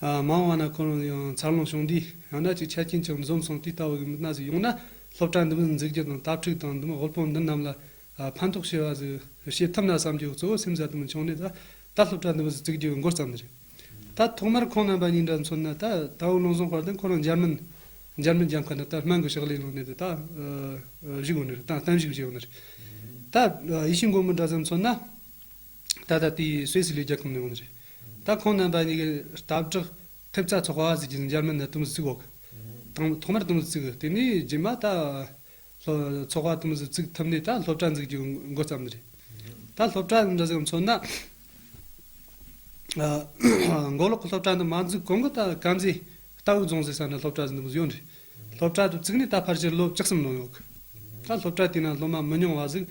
མང་བ་ན་ཁོ་རང་ཡང་འཚར་ལོངས་བྱུང་དུས་ཡང་དག་ཅིག་ཆ་རྐྱེན་ཅིག་འཛོམས་སོང་དུས་ལྟ་བུ་ཡིན་པ་ན་ཟིག་ཡོང་ན་སློབ་གྲྭ་འདི་མི་འཛུགས་རྒྱུ་དང་དྭགས་ཕྲུག་དང་འདི་མི་དབུལ་ཕོངས་འདི་རྣམས་ལ་ཕན་ཐོགས་ཆེ་བ་ཟིག་བྱེད་ཐུབ་ན་བསམ་རྒྱུ་གཙོ་བོ་སེམས་ས་དུ་མ་འཁྱོངས་ནས་ད་སློབ་གྲྭ་འདི་མི་ཟིག་བཙུགས་རྒྱུ་མགོ་བརྩམས་ནི་རེད། ད་ཐོག་མར་ཁོང་རྣམ་པ་གཉིས་འདྲ་མཚོན་ན་ད་དྭགས་ལོངས་སོང་བར་དུ་ཁོ་རང་འཇར་མན། German། རྒྱབ་ཁ་ན་ད་སྨན་གྱི་ཕྱག་ལས་ལོན་ནས་དུ་ད་བཞུགས་ཡོང་ནི་རེད་ད་གཏན་བཞུགས་བྱས་ཡོང་ནི་རེད། ད་ཡིད་ཤེས་མགོན་པོ་འདྲ་ཙམ་མཚོན་ན་ད་ད་ལྟའི་སུད་སི་ལས་རྒྱ་ཁུམ་ནས་ཡོང་ནི་རེད། ད་ཁོང་རྣམ་པ་གཉིས་ཀྱི་སྟབས་གྲགས་ཐེབས་རྩ་ཚོགས་པ་ཟིག་གིས་འཇར་མན་ནི་དུམ་བུ་བརྩིགས་འོག་ཐོག་མར་དུམ་བུ་བརྩིགས་དེ་ནས་རྗེས་མ་ད་ཚོགས་པ་དུམ་བུ་བརྩིགས་ཐུབ་ནས་ད་སློབ་གྲྭ་འཛུགས་རྒྱུ་མགོ་བརྩམས་པ་རེད། ད་སློབ་གྲྭ་འདི་ཟིག་མཚོན་ན། མགོ་ལོག་གི་སློབ་གྲྭ་འདི་མ་འཛུགས་གོང་གི་ད་དཀར་མཛེས་རྟ་དབུས་རྫོང་ཟེར་ས་ན་སློབ་གྲྭ་ཟིག་འདི་མི་ཡོད་རེད། སློབ་གྲྭ་དུ་བརྩིགས་ནས་ད་ཕར་ཕྱིར་ལོ་བཅུ་གསུམ་ལོན་འོག་ད་སློབ་གྲྭ་དེ་ན་སློབ་མ་མི་ཉུང་བ་ཟིག་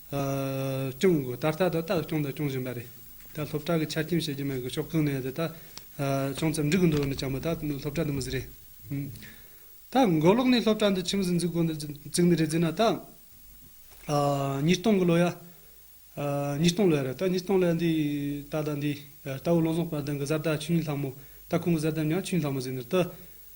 སྐྱོང་དགོས་ད་ལྟ་ད་ལྟ་སྐྱོང་དང་སྐྱོང་བཞིན་པ་རེད་ད་སློབ་གྲྭ་གི་ཆ་རྐྱེན་བྱེད་ཀྱི་མེད་གི་ཕྱོགས་གང་ནས་ད་ལྟ་བྱང་ཙམ་འགྲིག་གི་འདུག་ནི་བྱང་མི་ད་སློབ་གྲྭ་འདི་མི་བཟི་རེད་ད་མགོ་ལོག་ནས་སློབ་གྲྭ་འདི་ཁྱིམ་བཟི་འཛུག་དགོ་འདི་བརྩིག་ནི་རེད་བརྩིག་ན་ད་ཉིས་སྟོང་གི་ལོ་ཡ་ཉིས་སྟོང་ལོ་ཡ་རེད་ད་ཉིས་སྟོང་ལོ་ཡ་འདི་ད་ལྟ་འདི་རྟའུ་ལོང་ཟོག་པ་དང་གི་བཟའ་ཟླ་ཆུ་གཉིས་ལྷག་མོ་ད་ཁོང་གི་བཟའ་ཟླ་མྱང་ཆུ་གཉིས་ལྷག་མོ་བཟི་ནི་ད།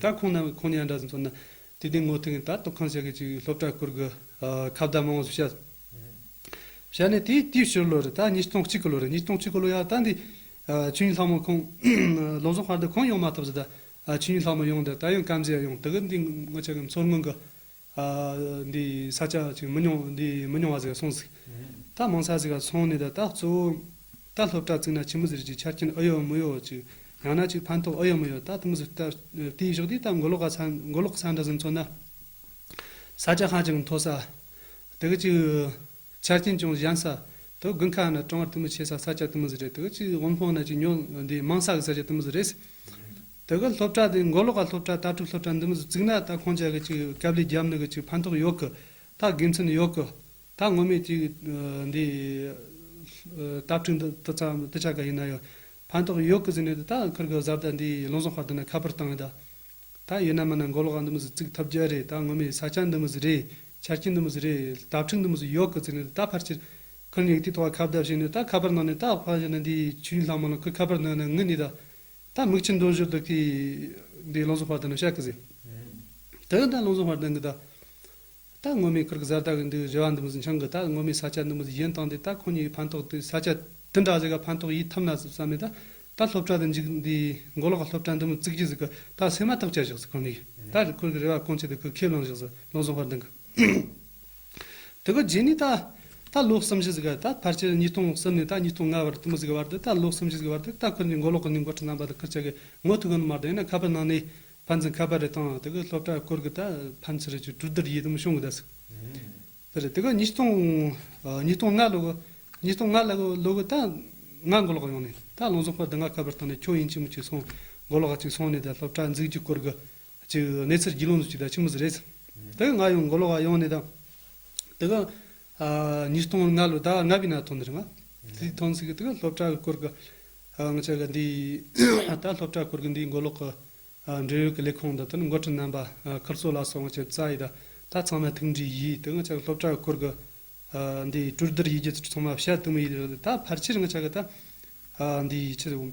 ད་ཁོང་ནང་ཁོང་ཉལ་འདྲ་ཟིག་མཚོན་ན། དུས་བདེ་ངོ་ཐུག་ཡིན་ད་སྟོབས་ཁང་ཆགས་གི་ཅིག་སློབ་གྲྭ་བསྐོར་གི། ཁ་བརྡ་མང་བོ་ཟིག་བྱ། བྱས་ནས་དེ་དུས་ཕྱི་ལོ་རེད་ད་ཉིས་སྟོང་གཅིག་གི་ལོ་རེད་ཉིས་སྟོང་གཅིག་གི་ལོ་ཡ་ད་འདི། ཆོས་ཉིད་ལྷག་མོ་ཁོང། ལོ་ཟོག་སྔར་ད་ཁོང་ཡོང་མ་ཐུབ་ཟིག་ད། ཆོས་ཉིད་ལྷག་མོ་ཡོང་འདི་ད་ཡང་སྐམ་ཟེ་ཡ་ཡོང་དགི་འདི་ངོ་ཆགས་གི་མཚོར་སྔོན་གི། འདི་ཡི་ས་ཆ་ཅིག་མི་ཉུང་འདི་ཡི་མི་ཉུང་བ་ཟིག་སོང་ཟིག། རྟ་མང་ས་ཟིག་ལ་སོང་ནས་ད་རྟ་གཙོ་བོ། རྟ་ལྷོ་བྲག་བརྩིགས་ན་ཁྱི་མི་ཟིག་རིགས་ཀྱི་ཆ་རྐྱེན་ཨུ་ཡོད་མུ་ཡོད་ཅིག་ཡང་ན་ཅིག་ཕན་ཐོགས་ཨུ་ཡོད་མུ་ཡོད་རྟ་དུ་མ་ཟིག་རྟ་དེའི་གཞོགས་འདིའི་རྟ་མགོ་ལོག་ག་ས་མགོ་ལོག་གི་ས་འདྲ་ཟིག་མཚོན་ན། ས་ཆ་ཧ་ཅང་མཐོ་ས། དེ་ག་ཅིག། ཆ་རྐྱེན་ཅུང་གཞན་ས་དུ་དགུན་ཁ་ནི་གྲང་བར་དུ་མི་ཆེ་ས་ས་སྐྱ་དུ་མི་ཟི་རེད་དུ་གཅིག་དབུམ་ལྷོ་ནི་ཅིག་ཉོ་འདི་དམངས་ས་གི་ས་སྐྱ་དུ་མི་ཟི་རེད། དུ་གི་སློབ་གྲྭ་དེ་མགོ་ལོག་ག་སློབ་གྲྭ་ལྟ་གྲུབ་སློབ་གྲྭ་འདི་མི་ཟི་བརྩིགས་ན་ད་ཁོང་ཅག་གི་ཅིག་སྐབས་ལས་རྒྱབ་ནི་གི་ཅིག་ཕན་ཐོག་ཡོད་གི་ད་དགེ་མཚན་ཡོད་གི་ད་སྔོན་མའི་ཅིག་འདི་ལྟ་ཕྲུག་འདི་དུ་ཚ་དུ་ཆ་ག་ཡིན་ན་ཡང་ཕན་ཐོག་ཡོད་གི་ཟི་ནས་དུ་ད་ཁུར་གི་བཟའ་ཟླ་འདི་ལུང་བཟང་ཧོར་དུ་ནི་ཁ་པར་བཏང་ཡོད་ད། ད་ཡིན་ན་མིན་ན་མགོ་ལོག་ག་འདི་མི་ཟིག་བརྩིག་ཐབས་རྒྱལ་རེད་ད་ངོ་མས་ས་ཆ་འདི་མི་ཟིག་རེད་ཆ་རྐྱེན་འདི་མི་ཟིག་རེད་དྭ་ཕྲུག་འདི་མི་ཟིག་ཡོག་གི་བརྩིག་ནས་ད་ཕར་ཆེར་ཁུར་ནས་ཡིག་རྟིག་ཐོག་ཁ་བརྡབ་བྱས་ནས་ད་ཁ་པར་ནང་ནས་ད་ཕར་བཞག་ན་འདིའི་ཆུ་ཡིན་ལྷག་མ་ལ་ཁུར་ཁ་པར་ནང་ན་ངུ་ནས་ད་ད་མིག་ཆུ་འདོན་ཞོར་དུ་ཀི་འདི་བློ་བཟང་བྷར་ཏ་ནང་བཤགས་ཀི་ཟིག་དེ་ད་བློ་བཟང་བྷར་ཏ་འགི་ད་ད་སྔོན་མའི་ཁུར་གི་གཟར་དག་གིས་འདུག་བཟོད་པ་འདི་མི་ཟིན་ཆང་གིས་ད་སྔོན་མའི་ས་ཆ་འདི་མི་ཟིན་གཞན་བཏང་སྟེ་ད་ཁོང་གཉིས་ཀྱི་ཕན་ཐོགས་དེ་ས་ཆ་འདི་འདྲ་ཟིག་ག་ཕན་ཐོགས་ཡིད་ཐབས་ན་ཟིག་བསམ་མེད་ད་ད་སློབ་གྲྭ་འདི་འཇིག་འདིའི་མགོ་ལོག་གི་སློབ་གྲྭ་འདི་མི་བརྩིག་གྱི་ཟིག་གི་ད་སེམས་མ་ཐག་བཅད་བཞག་ཟིག་ཁོང་གཉིས་ཀྱིས་ད་རི་ཁུར་གི་རེ་བ་སྐོང་ཆེད་དུ་གུ་ཁས་བླངས་བཞག་ཟིག་ལོ་བཟང་བར་འདི་གི་དེ་གི་རྗེས་ནས་ད་ད་ལོ་གསུམ་བཞི་ཟིག་གི་ད་ཕར་ཆེར་ཉིས་སྟོང་གསུམ་ནས་ད་ཉིས་སྟོང་ལྔ་བར་དུ་མི་ཟིག་གི་བར་དུ་ད་ལོ་གསུམ་བཞི་ཟིག་གི་བར་དུ་ད་ཁུར་གཉིས་མགོ་ལོག་གི་ནི་མགོ་ཁྲིད་རྣམ་པ་དང་ཁུར་ཆེ་གི་ངོ་ཐུག་གི་ནི་མ་གཏོགས་ཡིན་ན་ཁ་པར་ནང་ནས་ཕ་འཛིན་ཁ་པར་རེ་བཏང་ཨ་དེ་གི་སློབ་གྲྭ་སྐོར་གི་ད་ཕམ་ཚུ་རེ་ཅུ་དྲུག་དར་ཡིད་དམ་ཤོང་གི་ད་སུ་དེ་རེ་དེ་གི་ཉིས་སྟོང་ཉིས་སྟོང་ལྔ་ལོ་གི་ཉིས་སྟོང་ལྔ་ལ་གི་ལོ་གི་ད་ང་མགོ་ལོག་ཡོང་ནས་ད་ལོང་ཟོག་པར་དེ་ང་ཁ་པར་བཏང་ནས་ཁྱོ་ཡིན་ཅི་མི་ཅི་སོང་མགོ་ལོག་ཅིག་སོང་ནས་ད་སློབ་གྲྭ་འཛིག་རྒྱུ་སྐོར་གི་ཅིག་གནས་ཚུལ་རྒྱུས་ལོང་ཟུ་ཅིག་ད་ཆི་མི་ཟི་རེད་དེ་གི་ང་ཡང་མགོ་ལོག་ཡོང་ནས་ད་དེ་གི་ཉིས་སྟོང་ལྔ་ལོ་ཟླ་ལྔ་པའི་ནང་ཐོན་འདིར་ང་ཚོས་ཐོན་ཚུལ་དེ་ག་སློབ་གྲྭ་གི་སྐོར་གི་ང་ཚོས་ག་འདིའི་ད་ལྟ་སློབ་གྲྭ་སྐོར་གི་འདིའི་མགོ་ལོག་གི་འབྲེལ་ཡོད་ཀྱི་ལས་ཁུངས་དང་དེར་འགོ་ཁྲིད་རྣམ་པ་ཁིར་ཚོ་ལགས་སོགས་ང་ཚོས་རྩ་ཡི་ད་ད་ཚང་མས་ཐུགས་འདྲིས་ཡིས་དེ་ང་ཚོས་སློབ་གྲྭ་གི་སྐོར་གི་འདིའི་གྲུར་བསྡུར་ཡིས་རྒྱུ་ཚོགས་ཚང་མ་བཤད་དུ་མི་ཡིས་ད་ཕར་ཆེར་ང་ཚོས་ག་ད་འདིའི་ཆེད་དུ།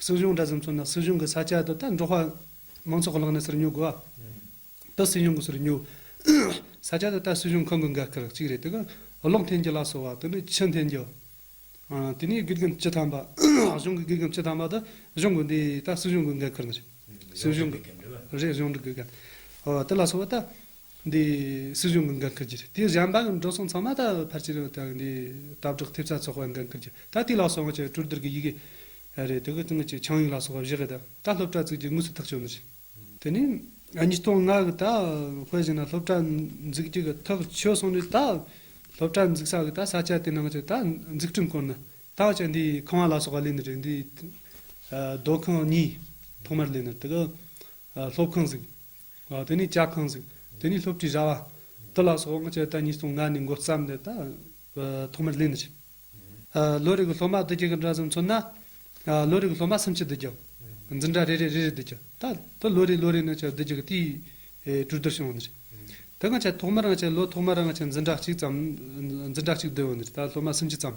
སྲིད་གཞུང་འདྲ་བཟོ་མཚོན་ན་སྲིད་གཞུང་གི་ས་ཆ་དེ་དག་འབྲོག་པ་མང་ཚོགས་ཀྱི་ལག་ནས་ཟུར་ཉོ་དགོས། དེ་སྲིད་གཞུང་གི་ཟུར་ཉོ། ས་ཆ་དེ་དག་སྲིད་གཞུང་ཁང་གི་འགན་ཁུར་གཅིག་རེད་དེ་གར་གློག་འཐེན་རྒྱུ་ལ་སོགས་བ་དེ་ནི་ཆུ་འཐེན་རྒྱུ། དེ་ནས་སྒེར་སྒམ་སྤྱི་ཐམ་པ། གཞུང་གི་སྒེར་སྒམ་སྤྱི་ཐམ་པ་དེ་གཞུང་གི་འདི་དག་སྲིད་གཞུང་གི་འགན་ཁུར་མ་བྱེད། སྲིད་གཞུང་གི། རེད་གཞུང་འབྲེལ་གྱི་འགན། དེ་ལ་སོགས་བ་དག་འདི་སྲིད་གཞུང་གི་འགན་ཁུར་རྒྱུ་རེད་དེ་གཞན་པ་འགྲོ་སོང་ཚང་མ་ད་ཕར་ཕྱིན་རོགས་དང་འདི་དྭ་ཕྲུག་ཐེབས་རྩ་ཚོགས་པ་འགན་ཁུར་རྒྱུ་ད་དུས་ལག་སོང་ཆེད་གྲུར་བསྡུར་གི་ཡི་གེ་རེད་དེ་གི་སྟེང་གི་ཆིངས་ཡིག་ལ་སོགས་པ་བཞི་རེད་ད་སློབ་གྲྭ་བཙུགས་རྒྱུ་དངོས་སུ་ཐག་གཅོད་གནང་རྒྱུ་དེ་ནས་ཉིས་སྟོང་ལྔ་གི་ད་དཔེ་བཞིན་ན་སློབ་གྲྭ་འཛུགས་རྒྱུ་གི་ཐག་ཆོད་སོང་ནས་ད་སློབ་གྲྭ་འཛུགས་ས་གི་ད་ས་ཆ་དེ་ནང་གི་ད་འཛུགས་སྐྲུན་སྐོར་ན་ད་ཆ་འདི་ཁང་བ་ལ་སོགས་པ་གླས་ནི་རེད་འདི་སྡོད་ཁང་གཉིས་ཐོག་མར་གླས་ནི་རེད་དེ་གི་སློབ་ཁང་ཟིག་དེ་ནས་ལྕགས་ཁང་གཟིགས། དེ་ནས་སློབ་ཁྲིད་བྱ་བ། དེ་ལ་སོགས་དབང་ཆ་ད་ཉིས་སྟོང་ལྔ་ནས་མགོ་བརྩམས་ནས་ད་ཐོག་མར་གླེང་ནས་བྱེད། ལོ་རེ་གི་སློབ་མ་བདུད་བརྒྱ་གི་འདྲ་ཙམ་ཚུད་ན། ལོ་རེ་གི་སློབ་མ་སུམ་ཅུ་བདུད་བརྒྱ། འཛིན་གྲྭ་རེ་རེར་རེ་རེ་བདུད་བརྒྱ། ད་དེ་ལོ་རེ་ལོ་རེ་ན་བཅུ་བདུན་བརྒྱ་གི་དུས་གྲུ་བསྡུར་བྱུང་བ་ནི་རེད། དེ་སྔ་ཆ་ཐོག་མར་ང་ཆ་ལོ་ཐོག་མར་ང་ཆ་འཛིན་གྲྭ་གཅིག་ཙམ། འཛིན་གྲྭ་གཅིག་བསྡུས་བ་ནི་རེད་ད་སློབ་མ་སུམ་ཅུ་ཙམ།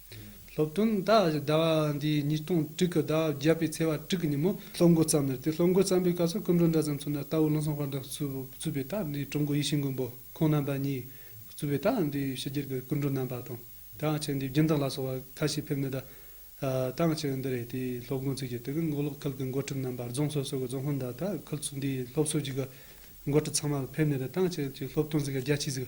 སློབ་སྟོན་ཟླ་བ་འདིའི་ཉིས་སྟོང་དྲུག་གི་ཟླ་བ་བརྒྱད་པའི་ཚེས་བ་དྲུག་གི་ཉིན་མོ། སློབ་འགོ་བརྩམས་ནས་དེ་སློབ་འགོ་བརྩམས་པའི་སྐབས་སུ་སྐུ་མགྲོན་འདྲ་ཙམ་ཚུད་ན་རྟ་བོ་བློ་བཟང་དཔར་འདོན་གཙོས་པའི་རྟ་འདིའི་གྲུབ་འགོ་ཡིད་བཞིན་མགོན་པོ་ཁོང་རྣམ་པ་གཉིས་གཙོས་པའི་རྟ་འདིའི་ཕྱི་རྒྱལ་གྱི་སྐུ་མགྲོན་རྣམ་པ་དང་དེའང་ཕྱི་འདིའི་རྒྱུན་བདག་ལ་སོགས་པ་ཁ་ཤས་ཕེབས་ནས་རྟ་རྟའང་ཕྱི་འདི་རེད་དེའི་སློབ་འགོ་ཚུད་ཀྱི་དེ་གའི་མགོ་ལོག་ཁུལ་གྱི་མགོ་ཁྲིད་རྣམ་པ་རྫོང་སོ་སོ་གྱི་རྫོང་ཧོན་དང་ད་ཁུལ་འདིའི་སློབ་གསོ་ཅུས་ཀྱི་མགོ་ཁྲིད་ཚང་མ་ཕེབས་ནས་རྟའང་ཕྱི་ཅེས་སློབ་སྟོན་ཟེར་གྱི་རྒྱ་ཆེ་ཟིག་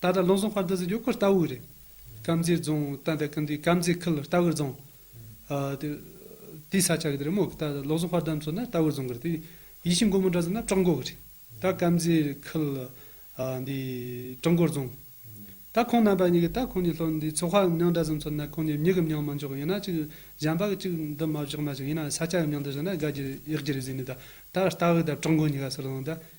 ད་ལྟ་རླུང་སྲོང་བར་འདུ་ཟེར་རྒྱུ་ཁོ་ལྟ་བུ་རེད། སྐམ་རྫི་རྫོང་ད་ལྟ་སྐམ་རྫི་སྐམ་རྫི་ཁུལ་ལྟ་བུར་རྫོང། དེའི་ས་ཆ་གི་དེ་རེད་མོད་ཀྱི་ད་ལྟ་རླུང་སྲོང་བར་འདམ་སོགས་ན་ལྟ་བུར་རྫོང་གི་རེད་དེ། ཡིད་བཞིན་མགོན་པོ་འདྲ་ཟེར་ན་བྲག་མགོ་གི་རེད། ད་སྐམ་རྫི་ཁུལ་འདི་བྲག་མགོ་རྫོང། ད་ཁོང་རྣམ་པ་གཉིས་ཀྱི་ད་ཁོང་གཉིས་ལྷོ་འདི་མཚོ་ཁ་གི་མྱང་འདྲ་ཟེར་མཚོ་ན་ཁོང་གཉིས་མྱི་གི་མྱང་མ་འཇོག་ཡིན་ན་གཅིག་བྱམས་པ་གི་གཅིག་འདི་མ་བཞག་མ་བཞག་ཡིན་ན་ས་ཆ་གི་མྱང་འདི་ཟེར་ན་དགའ་རྒྱུ་རེད་ཡག་རྒྱུ་རེད་ཟེར་ནས་ད་ད་ལྟ་བའི་ད་བྲག་མགོ་གཉིས་ཀ་ཟེར་རྫོང་ད་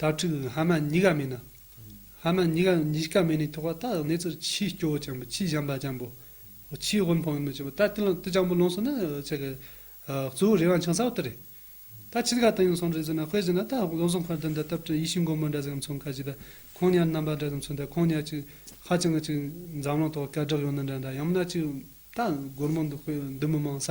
དྭ་ཕྲུག་ཧ་མ་ཉི་ག་མེ་ན། ཧ་མ་ཉི་ག་ཉིས་ཀ་མེ་ནི་ཐོགས་པ་རྟགས་གནས་ཚུལ་ཕྱིའི་སྐྱོ་བོ་སྤྱང་པོ་ཕྱིའི་བྱམས་པ་སྤྱང་པོ། ཕྱིའི་དབུལ་འཕོངས་མི་སྐྱོ་བོ་ད་ཏི་ལང་ཏི་སྤྱང་པོ་ལོངས་སུ་ན་ཆ་གི། གཙོ་བོ་རི་དབང་ཆང་ས་བ་ཏི་རེད། ད་ཕྱིར་ག་ཏི་ཡང་སོང་རེ་ཟི་ན་དཔེ་ཟི་ན་ད་ལོ་སོང་ཁར་འདི་འདྲ་སྟབས་བྲེལ་ཡིད་བཞིན་སྒོར་མོ་འདྲ་ཟིག་གམ་ཚོང་ཁ་ཅིག་ད་ཁོང་ཉར་རྣམ་པ་འདྲ་ཟིག་གམ་ཚོང་ད་ཁོང་ཉར་ཅིག་ཧ་ཅང་གི་ཅིག་འཛམ་གླིང་ཐོག་སྐད་གྲགས་ཡོང་ན་འདྲ་འདྲ་ཡང་མིན་ན་ཅིག་ད་སྒོར་མོ་འདི་དཔེ་འདི་མི་མང་ས་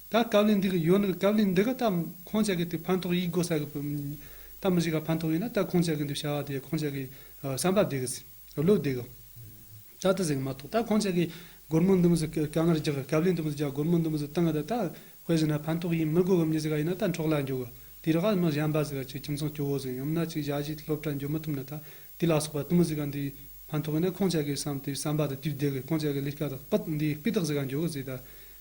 ད་སྐབས་ལས་འདི་གི་ཡོད་ན་སྐབས་ལས་འདི་གི་ད་ཁོང་ཅག་གི་དེ་ཕན་ཐོགས་ཡིག་དགོས་ས་གི་ད་མི་ཞིག་ག་ཕན་ཐོགས་ཡིན་ན་ད་ཁོང་ཅག་གི་འདི་བྱ་བ་དེ་ཁོང་ཅག་གི་བསམ་པ་བདེ་གི་སེམས་བློ་བདེ་གི་ད་དེ་ཟིག་མ་གཏོགས་ད་ཁོང་ཅག་གི་སྒོར་མོ་འདི་མི་ཟིག་ག་ངར་རྒྱག་སྐབས་ལས་འདི་མི་ཟིག་རྒྱག་སྒོར་མོ་འདི་མི་ཟིག་བཏང་གི་ད་ད་དཔེ་བཞིན་ན་ཕན་ཐོགས་ཡིན་མི་དགོས་གི་མྱི་ཟིག་ག་ཡིན་ན་ད་འཕྲོག་ལ་འཇུག་གི་དེ་རི་ག་མི་གཞན་པ་ཟིག་ག་ཁྱིམ་ཚང་སྐྱོ་བོ་ཟིག་ཡིན་ན་ཅིག་བཞག་ཅིག་སློབ་གྲྭ་འགྱོ་མི་ཐུབ་ན་ད་དེ་ལ་སོགས་པ་དེ་མི་ཟིག་ག་འདི་ཕན་ཐོགས་ཡིན་ན་ཁོང་ཅག་གི་བསམ་དེ་བསམ་པ་དེ་དུས་བདེ་གི་ཁོང་ཅག་གི་ལས་ཀ་དག་པིད་འདི་སྤི་དག་ཟིག་ག་འཇོག་གི་ཟིག་ད་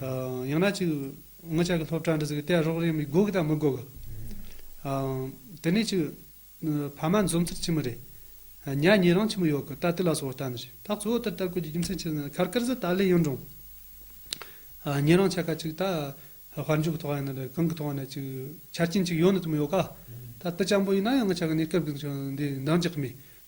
ཡང་ན་ཅིག། ངོ་ཅག་གི་ལྷོ་བྲག་འདི་ཟིག་གཏད་རོགས་རེད་མི་དགོས་གི་དང་མི་དགོས་གི། དེ་ནས་ཅིག། ཕ་མ་འཛོམས་ཚར་ཕྱིན་མི་རེད། ཉལ་ཉིན་རང་ཕྱིན་མི་ཡོད་གི་ད་དུས་ལ་སོགས་བལྟ་ནི་ཞིག་ད་གཙོ་བོ་དེར་ལྟ་དགོས་ཀྱི་རྒྱུ་མཚན་ཅི་ཟེར་ན་ཁར་ཀར་ཟི་ཏཱ་ལའི་གཡུང་དྲུང། ཉིན་རང་ཆ་ག་ཅིག་ད། དཔལ་འབྱོར་གི་ཐོག་ཡིན་ན་རེད་གང་གི་ཐོག་ནས་ཅིག་ཆ་རྐྱེན་ཅིག་ཡོད་ནི་དུ་མི་ཡོད་ག། ད་དཔེ་ཆ་འབོ་ཡིན་ན་ཡང་ངོ་ཆ་ག་ནས་སྐབས་གི་འདི་འདང་རྒྱག་གི་མེད།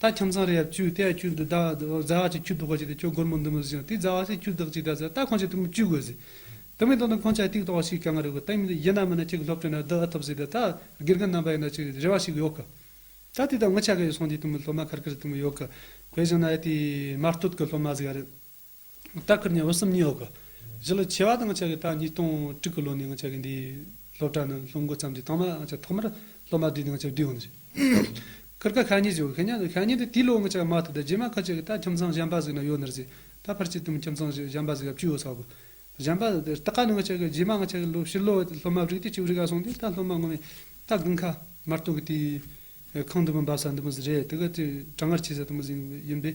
ད་ཁྱིམ་ཚང་རེ་ཡབ་ཅུས་དེ་ཡ་ཁྱུ་འདི་བདག་རྫ་བ་ཅིག་ཁྱུ་བདོག་ག་ཅིག་དེ་ཁྱོད་སྒོར་མོ་འདི་མི་བཟོ་ཅིག་དང་དེས་རྫ་བ་ཅིག་ཁྱུ་བདག་ཅིག་དང་ཟེར་ད་ཁོང་ཅིག་དེ་མི་ཅུས་དགོས་ཟེར། དེ་མིན་དོན་དུ་ཁོང་ཅག་གིས་ཏིག་ཏོག་བ་ཞིག་གང་ག་རེ་དགོས་ད་ཡིན་ལ་ཡིན་ན་མི་སྣ་གཅིག་གི་སློབ་གྲྭའི་ནང་བསྡུ་ཨ་ཐུབ་ཟེར་ད་ད་དགེ་རྒན་རྣམ་པ་ཡིན་ན་ཅིག་རེ་བ་ཞིག་ཡོད་གི། ད་དེ་དག་མི་ཆ་ག་ཡོད་སོང་དེའི་དུས་མི་སློབ་མ་ཁར་ཁར་དུས་མི་ཡོད་གི། དེ་བཞིན་ན་ཡ་དེའི་མར་སྟོད་གི་སློབ་མ་ཟིག་ཡ་རེད། རྟ་ཁུར་ནས་འོད་སྲུང་གཉིས་འོག་གི། གཞི་ལ་ཆེ་བ་དང་ཆགས་ཀྱི་ད་ཉིས་སྟོང་དྲུག་གི་ལོ་ནས་འང་ཆགས་ཀྱི་འདིའི་སློབ་གྲྭ་ནི་སློབ་འགོ་བརྩམས་ཏེ་ཐོག་མར་འང་ཆགས་ཐོག་མར་སློབ་མ་བསྡུས་ཏེ་འང་ཆགས་བསྡུས་འང་ཆགས། ཁུར་ཁ་ཁ་ཉིས་བྱས་ཁ་ཉིས་ཁ་ཉིས་ཏེ་དེའི་ལོ་འང་ཆགས་མ་ཐུབ་ད་རྗེས་མ་ཁ་ཆགས་ཀྱི་ད་ཁྱིམ་ཚང་གཞན་པ་ཟིག་ན་ཡོད་ནར་ཟིག་ད་ཕར་ཆིག་སྟོང་ཁྱིམ་ཚང་ཞིག་གཞན་པ་ཟིག་ཡབ་ཅུ་ཡོད་ས་གོ། གཞན་པ་རྟ་ཁ་ནི་འང་ཆགས་ཀྱི་རྗེས་མ་འང་ཆགས་ཀྱི་ལོ་ཕྱི་ལོ་སློབ་མ་བསྒྲིགས་ཏེ་ཅིག་རི་ཁ་སོང་སྟེ་ད་སློབ་མ་ངོ་མས་ད་དགུན་ཁ་མར་སྟོན་གྱི་དེའི་ཁང་དུ་མི་འབབ་ས་འདི་མི་ཟིག་རེད་དེ་ག་དེ་གྲང་ངར་ཆེ་ས་དེ་མི་ཟིག་ཡིན་པས་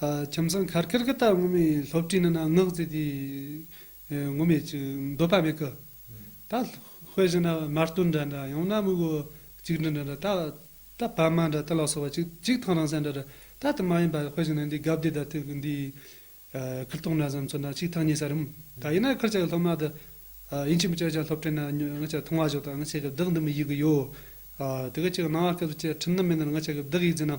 ཁྱིམ་ཚང་གར་ཀེར་ཀི་ད་ངུ་མའི་སློབ་གྲྭའི་ནང་ན་ངག་རྩིས་དེ་ངུ་མས་ཅི་འདོད་པ་མེད་གི། ད་དཔེ་བཞིན་ན་མ་བསྟོད་འདྲ་འདྲ་ཡང་ན་དམིགས་བུ་གཅིག་འདྲ་འདྲ་འདྲ་ད་ད་བ་མ་འདྲ་ད་ལགས་སོ་བ་གཅིག་གཅིག་ཐང་རང་སེ་འདྲ་འདྲ་ད་དེ་མ་ཡིན་པ་དཔེ་བཞིན་ན་འདི་གབ་འདི་ད་ཐིག་གི་འདི་ཁིར་ཐོང་འདྲ་ཙམ་ཚོད་ན་གཅིག་ཐང་གཉིས་ས་རིམ་ད་ཡིན་ན་ཁིར་ཅག་གི་སློབ་མ་དེ་ཡིན་གཅིག་མི་གཅིག་ཅག་སློབ་གྲྭའི་ནང་ཉོ་ང་ཅག་ཐུང་བ་ཞིག་དང་ང་ཅག་གི་བདག་འདི་མི་ཡིག་གི་ཡོད། དེ་གི་ཅིག་སྣང་བ་སྐད་དུ་བཅད་ཁྲིམས་ནི་མེད་ན་ང་ཅག་གི་བདག་ཡིག་འཛིན་ན།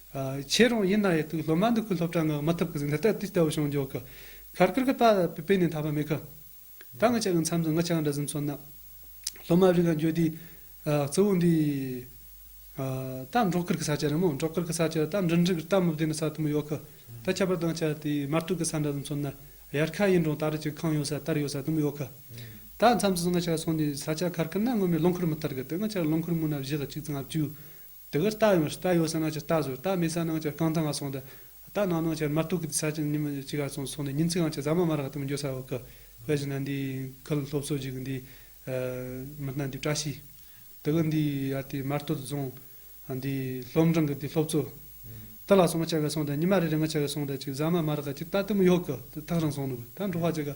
ཁྱེད་རང་ཡིན་ན་ཡི་དུག་སློབ་མ་འདི་ཁུ་སློབ་གྲྭ་ངག་མ་ཐུབ་གི་ཟིག་འདི་ལྟ་དུས་ལྟ་བུ་བྱུང་འཇོག་གི། ཁར་ཁར་གི་པ་པི་པི་ནས་འཐག་པ་མེད་གི། ད་ངི་ཅག་གི་མཚམས་སུ་ངི་ཅག་འདྲ་ཟིན་མཚོན་ན། སློབ་མ་རིག་ག་འགྱོད་དུས། གཙོ་བོ་འདི། ད་འབྲོག་ཁར་གི་ས་ཆ་རེད་མོ་འབྲོག་ཁར་གི་ས་ཆ་ད་འབྲིང་འབྲིང་གི་སྟབས་མི་བདེ་ན་ས་དུ་མི་ཡོད་གི། ད་ཁྱད་པར་དང་ཅག་དེ་དམར་ཐུག་གི་ས་འདྲ་ཟིན་མཚོན་ན། ཡར་ཁ་ཡིན་རུང་ད་རེས་ཀྱི་ཁང་ཡོད་ས་དར་ཡོད་ས་དུ་མི་ཡོད་གི། ད་མཚམས་སུ་ངི་ཅག་སོང་དུས་ས་ཆ་ཁར་ཁར་ན་སྔོན་མའི་རླུང་ཁུར་མི་ཐར་གི་དེ་ངི་ཅག་རླུང་ཁུར་མུན་ནག་བཞི་ལ་གཅིག་ཙམ་ལྔ་བཅུ། དེ་གར་རྟ་ཡོད་རྟ་ཡོད་ས་ནང་ཆེར་རྟ་བཟོས་རྟ་མེད་ས་ནང་ཆེར་རྐང་ཐང་ག་སོང་སྟེ། རྟ་ནང་ནང་ཆེར་མར་ཐུག་གི་ས་ཆ་ཉིན་མོ་གཅིག་ག་སོང་སོང་ནས་ཉིན་གཅིག་གམ་ཆེ་ས་མ་མར་ག་ཐུག་འགྱོད་ས་བག་གི་བཞིན་ན་འདིའི་ཁུལ་སློབ་གསོ་གཅིག་གི་འདིའི། མི་སྣ་འདིའི་བཀྲ་ཤིས། དེ་གི་འདིའི་ཡ་དེའི་མར་སྟོད་རྫོང། འདིའི་སློབ་འབྲིང་གི་འདིའི་སློབ་གཙོ། རྟ་ལ་སོང་མ་ཆེ་ག་སོང་སྟེ་ཉི་མ་རེ་རེ་ང་ཆེ་ག་སོང་སྟེ་གཅིག་ཟ་མ་མར་ག་གཅིག་རྟ་དེ་མོ་ཡོད་གི་དེ་ཐག་རིང་སོང་ནུབ་གི་ད་འགྲོ་བ་ཆེ་ག།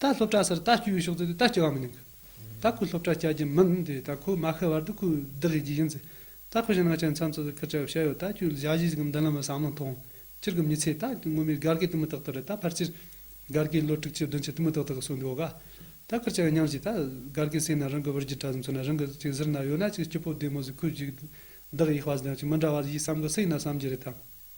ད་སློབ་གྲྭ་སར་ད་སྐྱོད་ཡོད་ཤོག་ཙེ་ད་སྐྱོད་བ་མི་ནིང་གི། ད་ཁོའི་སློབ་གྲྭ་བསྐྱལ་རྒྱུ་མིན་དེ་ད་ཁོའི་མ་ཤི་བར་དུ་ཁོའི་བདག་གིས་བགྱིས་ཡིན་ཙེ། ད་ཁོ་ཞིང་ནང་ཆེན་མཚམས་སུ་ཟུར་བཀར་བྱ་བའི་བྱ་ཡོད་ད་སྐྱོད་བཞག་གཞིས་ཀྱི་མདུན་ལམ་བ་བསམ་བློ་མཐོང། སྤྱིར་གི་མི་ཚེ་ད་སྔོན་མའི་སྒར་གའི་དུ་མི་ཏག་ཏག་རེད་ད་ཕར་ཆེར། སྒར་གའི་ལོ་དྲུག་ཅུ་བདུན་ཅུ་དུ་མི་ཏག་ཏག་གི་སྲོལ་འདི་འོག་ག། ད་བཀར་བྱ་བའི་ཉམས་ཞིག་ད། སྒར་གའི་སེང་ན་རང་གི་བུར་རྒྱུ་དྲ་ཟུམ་ཚུར་ན་རང་གི་ཚེ་ཟུར་ན་ཡོད་ན་ཅིག་སྐྱིད་པོ་བདེ་མོ་ཟིག་ཁོའི་བཞུགས་བདག་གི་ཡིད་དཔའ་ཟིག་ཡང་ཅིག་མི་འདྲ་བ་ཟིག་ཡིད་བསམ་གི་སེང་ན་བསམ་གྱི་རེད་དམ།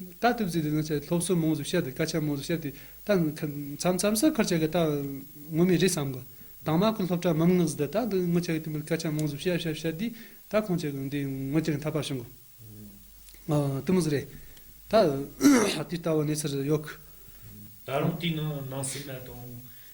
ད་ཐུབ་ཚེ་དེ་ནང་ཆ་སློབ་གསོ་མང་ཙམ་བཤད་དེ་སྐད་ཆ་མང་ཙམ་བཤད་དེ་ད་མཚམས་མཚམས་སུ་འཁུར་ཆ་གི་ད་ངོ་མི་རེ་བསམ་གོ། དྭངས་མ་ཁུ་སློབ་གྲྭ་མམ་ངག་བཟི་དེ་ད་འདི་ངོ་ཆ་གི་དེ་མིན་སྐད་ཆ་མང་ཙམ་བཤད་བཤད་བཤད་དེ་ད་ཁོང་ཆ་གི་འདི་ངོ་ཆ་གི་མཐའ་བར་བྱུང་གོ། དེ་མོ་ཟེར་རེད། ད་དེ་ལྟ་བུ་གནས་ཚུལ་ཡོད་གི། ད་རུང་དེའི་ནང་ནང་སེམས་ན་དང།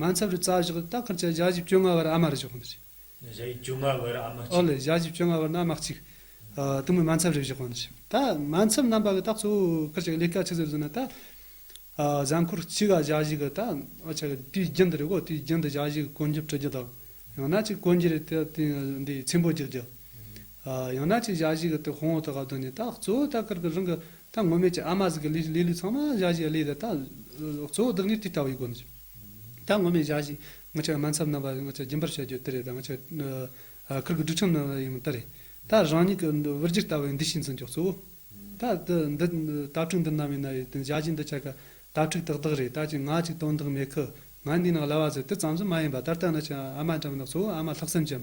མ་འཚམས་རི་རྩ་བཞག་ཏུ་སྟག་འཁར་བཅས་བརྒྱ་བཞི་བཅོ་ལྔ་བར་ཨ་མ་རུ་བཞག་གོ་ནི་ཅི། བརྒྱ་བཞི་བཅོ་ལྔ་བར་ཨ་མ་གཅིག། ཨོ་ལེ་བརྒྱ་བཞི་བཅོ་ལྔ་བར་ན་མ་གཅིག། དུ་མོས་མ་འཚམས་རི་བཞག་གོ་ནི་ཅི། ད་མ་འཚམས་རྣམ་པ་གི་སྟག་གཙོ་བོ་འཁར་བཅས་ཀྱི་ལས་ཀ་ཆུ་ཚོད་བཟུང་ན་ད། གཟའ་འཁོར་གཅིག་ག་བརྒྱ་བཞི་གི་ད་འོ་ཆ་གི་དུས་རྒྱུན་དུ་རེ་གོ་དུས་རྒྱུན་དུ་བརྒྱ་བཞི་གི་གོ་འཇུ་དཀྲི་རྒྱུ་དང། ཡང་ན་གཅིག་གོ་འཇུ་རེ་ད་དུས་འདི་ཚིམ་པོ་རྒྱག་རྒྱུ། ཡང་ན་ཅིག་ཞག་བཞི་གི་དེ་ཧོང་ཨོ་ཐོ་ག་བཏོན་ནས་ད་གཙོ་བོ་ད་ཀིར་ཀིར་རང་གི་ད་ངོ་མས་ཀྱི་ཨ་མ་ཟིག་གི་ལི་ལི་ལུས་ཚང་མ་ཞག་བཞི་གླེས་ཏེ་ད་གཙོ་བོ་བདག་ཉིད་དེ་ལྟ་བུ་ཡིན་དགོས་མི་ད་ངོ་མས་ཞག་བཞི་ང་ཅག་སྨན་འཚབ་རྣམ་པ་ང་ཅག་རྒྱུན་པར་བཤད་རྒྱུ་དེ་རེད་ད་ང་ཅག་ཀིར་ཀིར་སྒྲུག་ཆམ་རྣམ་པ་ཡིན་མི་ད་རེད་ད་རང་ཉིད་ཀྱི་བུར་རྒྱུད་ལྟ་བུ་ཡིན་འདི་ཤིས་འཛིན་ཀྱོག་གཙོ་བོ་ད་འདི་འདི་དྭ་ཕྲུག་འདི་རྣམ་ཡིན་ན་ཡིན་དེ་ཞག་བཞི་འདི་ཆ་ག་དྭ་ཕྲུག་དག་དག་རེད་ད་ཅིག་ང་ཅིག་དོན་དག་མེད་ཁུ་ང་འདི་ན་གླ་བ་ཟེར་དེ་ཙམ་ཟིག་མ་ཡིན་པ་ད་ལྟ་ན་ཅིག་ཨ་མ་འདྲ་མིན་ན་གཙོ་བོ་ཨ་མ་ལྷག་བསམ་ཅན་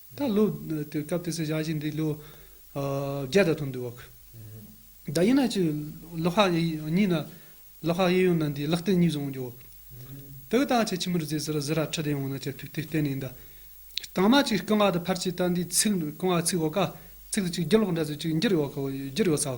ད་ལོའི་སྐབས་དེ་ཚོའི་བྱ་བཞིན་འདི་ལོ་བརྒྱད་དང་ཐུམ་དུ་བབ། ད་ཡིན་ན་ཅི། ལོ་ཧ་གཉིས་ན། ལོ་ཧ་གཡས་ཡོང་ན་འདི་ལག་རྟེན་གཉིས་བཟུང་རྒྱུ། དེ་གི་ད་ཁྱེད་ཁྱིམ་རུ་རྫས་ཟེར་བཟི་ར་ཁྲི་དེ་ཡོང་ན་ཁྱེད་ཐུགས་ཐིག་གཏན་ནས་འདི། གྲང་མ་ཅིག་རྐང་བ་དང་ཕར་ཆེ་ད་འདི་ཚིག་རྐང་བ་ཚིག་འོག་ཀ། ཚིག་ཅིག་རྒྱུ་ལོག་འདྲ་ཚོད་ཅིག་འགྱུར་ཡོད་འགྱུར་ཡོད་ས།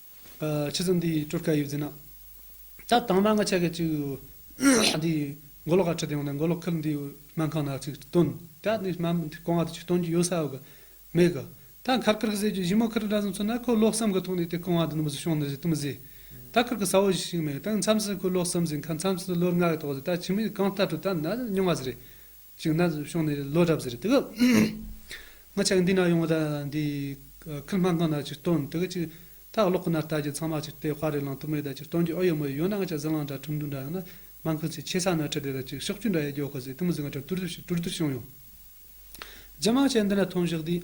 ཕྱི་ཟུར་འདིའི་སྤྲུལ་སྐལ་ཡོད་ཟེར་ན། ད་དང་མ་ང་ཆ་གས་ཅིག། འདིའི་མགོ་ལོག་ཨ་ཁྲི་དེ་ཡོང་ནས་མགོ་ལོག་ཁུལ་འདིའི་སྨན་ཁང་ན་ཅིག་བསྟུན། ད་ནི་སྨན་མི་དེ་གང་བ་དེ་ཅིག་བསྟུན་རྒྱུ་ཡོད་ས་ཨོ་གི། མེད་གི། ད་མཁར་ཁུར་གི་ཟེར་རྒྱུ་གཞི་མོ་ཁུར་འདྲ་ཟུང་ཚུད་ན་ཁོས་ལོག་བསམ་གི་ཐོག་ནས་དེ་གང་བ་དེ་ནི་མི་བཟོ་ཤོང་ནི་ཟེར་དུ་མི་བཟོས། ད་ཁུར་གི་ས་བོ་ཞིག་མེད་ད་མཚམས་སུ་ཁོས་ལོག་བསམ་ཟིན་ཁར་མཚམས་སུ་ལོ་ལྔ་གི་ཐོག་ཟིན་ད་ཕྱི་མིས་གང་ལྟ་སྤྲོད་ད་ནི་ཉུང་བ་ཟིན་རེད། ཅིག་ན་ཤོང་ནས་ལོ་གྲབས་ཟེར་དེ་གི། ང་ཆགས་འདི་ན་ཡོང་བ་དང་འདི། ཁིལ་སྨན་ཁང་ན་ཅིག་སྟོན་དེ་གི་ཅིག། ད་གློག་ཁུ་ནར་ལྟ་རྒྱུ་ཚང་མ་ཅིག་སྟེ་དཔའ་རིས་ལང་ཐུབ་མེད་ད་ཅིག་སྟོན་རྒྱུ་ཨོ་ཡོད་མོ་ཡོད་ཡོད་ན་ང་ཆགས་ཟི་ལང་འདྲ་ཁྲུང་ཁྲུང་འདྲ་ཡང་ན། སྨན་ཁང་ཅིག་ཆེ་ས་ན་ཁྲི་སྡེ་ད་ཅིག་ཤོག་ཆུ་འདྲ་ཡས་རྒྱོ་ག་ཟི་ཏི་མོ་ཟི་ང་འདྲ་དུར་དུར་དུར་དུར་བྱུང་ཡོང། རྗེས་མ་ང་ཆགས་འདི་ན་ཐོན་བཞག་དེ།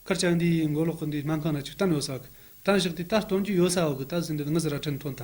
ཁར་ཆགས་འདི་མགོ་ལོག་གི་འདི་སྨན་ཁང་ན་ཅིག་སྟོན་ཡོད་ས་གི། སྟོན་བཞག་དེ་ད་སྟོན་རྒྱུ་ཡོད་ས་འོག་གི་ད་ཟི་འདི་ནི་ངི་ཟི་ར་ཁྲིན་ཐོན་ད།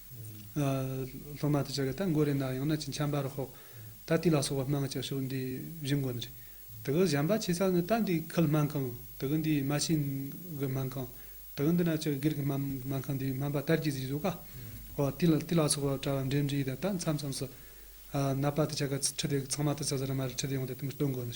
སློབ་མ་དེ་ཅག་གིས་ད་མགོ་རེ་ན་ཡང་ན་ཅི་འཆམ་པར་ཤོག། ད་དེ་ལ་སོགས་པ་སྨྲང་བྱ་ཤོག་འདི་བཞི་མགོ་ནི། དེ་གི་བཞམས་པ་ཆེ་ས་ནི་ད་འདི་ཁིལ་སྨན་ཁང། དེ་གི་འདི་མ་ཤིང་གི་སྨན་ཁང། དེ་གི་འདི་ན་ཅི་གིར་གི་སྨན་ཁང་འདི་སྨན་པ་དར་གྱིས་གཟིགས་སོ་ཀ། ཧོ། དེ་ལ་སོགས་པ་བཀྲ་བ་འགྲེམས་འགྲེས་དང་ད་མཚམས་མཚམས་སུ། ནད་པ་དེ་ཅག་གི་ཁྲི་དེ་གི་ཚང་མ་དེ་ཚོ་ཟ་ར་མ་རེ་ཁྲི་དེ་ཡོང་སྟེ་དེ་མི་སྟོན་དགོས་ནི།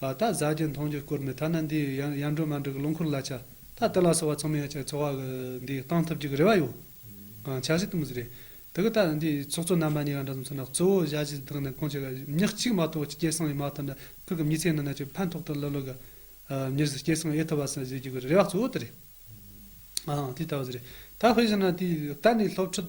ད་གཟའ་རྒྱན་མཐོང་རྒྱུ་སྐོར་མེད་ཐ་ན་འདི་ཡང་ཡར་འགྲོ་མར་འགྲོ་གི་ལོ་འཁོར་གླ་ཆ་ད་ལྟ་ལ་སོགས་བ་ཚང་མའི་ཆ་འཚོ་བ་འདི་བཏང་ཐུབ་རྒྱུ་གི་རེ་བ་ཡོད། ཨང་ཆ་ཞིག་ཏུ་མི་ཟེར། དེ་གི་ད་ནི་འདིའི་ཚོགས་གཙོ་རྣམ་པ་གཉིས་ཀ་འདྲ་ཙམ་ཚོར་ན་གཙོ་བོ་བཞའ་བཞི་དག་ནི་ཁོང་ཆོས་ཀ་ཉག་གཅིག་མ་གཏོགས་སྐྱེ་སངས་ཡིན་མ་ཐག་འདྲ་ཁུག་གི་མྱི་ཚེ་ནང་ན་ཆོས་ཕན་ཐོག་ཏུ་སླེབས་ལོ་ག་མྱུར་ཟིག་སྐྱེ་སངས་ཨེ་ཐུབ་པ་སོགས་བཞེས་རྒྱུ་གི་རེ་བ་གཙོ་བོ་དེ་རེད། ཨང་དེ་ལྟ་བུ་ཟེར། ད་དཔེ་བཞིན་ན་དེ་ད་ནི་སློབ་ཕྲུག་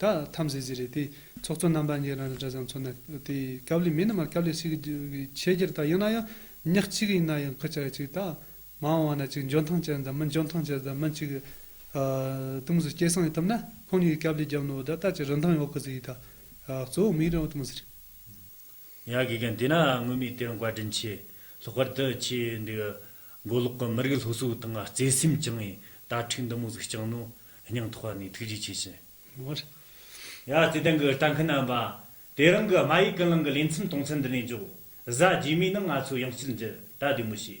ད་ཐམ་ཟེ་ཟེ་རེད་དེ་ཚོགས་གཙོ་རྣམ་པ་གཉིས་རང་རེ་འདྲ་བཟང་ཚོ་ནི་དེ་སྐབས་ལས་མི་རྣམས་ལ་སྐབས་ལས་ཤིག་གི་ཆེད་རྒྱུར་ད་ཡིན་ན་ཡང་ཉག་གཅིག་ཡིན་ན་ཡང་ཁུ་ཅག་གཅིག་ད་མ་འོང་ན་གཅིག་འཇོན་ཐང་ཅན་དང་མི་འཇོན་ཐང་ཅན་དང་མི་གཅིག་ཏུང་ཟི་སྐྱེ་སངས་ཡིན་ཐུབ་ན་ཁོང་གཉིས་ཀྱི་སྐབས་ལས་རྒྱབ་ནོར་བ་ད་ལྟ་ཅི་རིན་ཐང་ཡོད་གི་ཟིག་ཡིན་ད་གཙོ་བོ་མིག་རིང་བ་ཏུང་ཟི་རེད། ཡང་དགེ་རྒན་དེ་ན་དངོས་མེད་དེར་མགོ་དྲིན་ཆེ། ལྷག་པར་དུ་ཁྱེད་འདི་གི་མགོ་ལོག་གི་མི་རིགས་སློབ་གསོའི་སྟེང་བརྩེ་སེམས་བཅངས་ནས་དྭ་ཕྲུག་འདི་མོ་གཟིགས་བསྐྱངས་ནོ། སྙིང་ཐོག་ནས་ཐུགས་རྗེ་ཆེ་ཞུ། མོར། ཡ་བརྩེ་ལྡན་གྱི་ལྟ་མཁན་རྣམ་པ། དེ་རིང་གི་དམའ་ཡིག་ཀུན་སློང་གི་ལེ་ཚན་དུང་ཚན་འདི་ནས་འཇོག། གཟའ་རྗེས་མའི་ནང་ང་ཚོ་ཡང་སྤྱིར་འཛད་ད་བདེ་མོ་བྱེད།